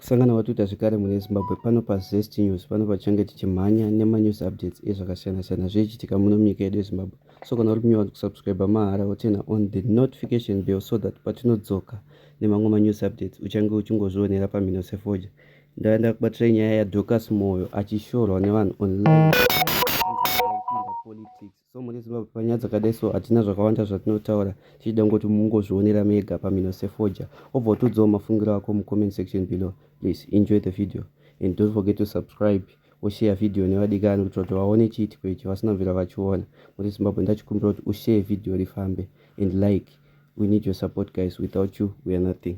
Kusangana kwatwiita zvekare mune Zimbabwe pano paZest News pano patichange tichimhanya nemanews updates ezvakasiyana siyana zvichiitika muno munyika yedu yeZimbabwe. So kana uri new wanzi kusubscriber mahara woturna on the notification bell so that patinodzoka nemamwe manews updates uchange uchingozvionera pamhino sefoja. Ndava ndakubatirai nyaya yaDocas Moyo achishorwa nevanhu online politics so muri zimbabwe panyaya dzakadai so hatina zvakawanda zvatinotaura tichida ngoti mungozvionera mega pamhino sefoja obva utiudzawo mafungiro ako mucomment section below please enjoy the video and don't forget to subscribe oshare video nevadikani kuitira kuti vaone chiitiko ichi vasina mvira vachiona muri zimbabwe ndachikumbira kuti ushare video rifambe and like we need your support guys without you we are nothing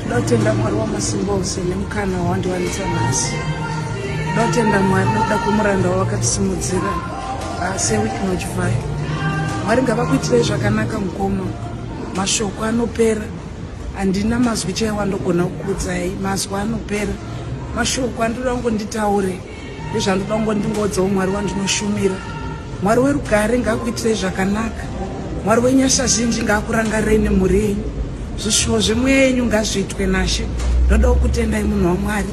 ndinotenda mwari wamasimba ose nemukana wawandiwanisa nhasi ndinotenda mwari nokuda kwemuranda wawakatisimudzira ah, seweek nochivai mwari ngavakuitirei zvakanaka mukoma mashoko anopera Handina mazwi chaiwo andogona kukuudzai mazwi anopera mashoko andinoda kungo nditaure ndezvandinoda kungo ndingoudzawo mwari wandinoshumira mwari werugare ngaakuitirei zvakanaka mwari wenyasha zhinji ngaakurangarirei nemhuri yenyu zvishuwo zvemweya yenyu ngazviitwe nashe ndodawo kutendai munhu wamwari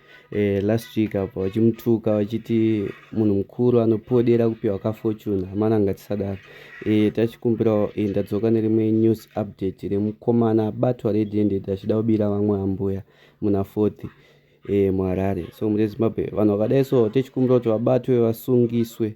eh, last week apa vachimutuka vachiti munhu mukuru anopodera kupiwa ka fortune hamana ngatisadaro eh, tachikumbirawo eh, ndadzoka nerimwe news update remukomana abatwa red handed achida kubira vamwe ambuya muna fourth eh, muharare so murezimbabwe vanhu vakadai so tichikumbira kuti vabatwe vasungiswe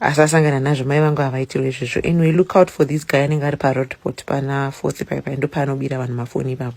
asasangana nazvo mai vangu havaitirwe izvozvo anyway look out for this guy anenge ari paroadport pana fosi paipai ndopaanobira vanhu mafoni ipapo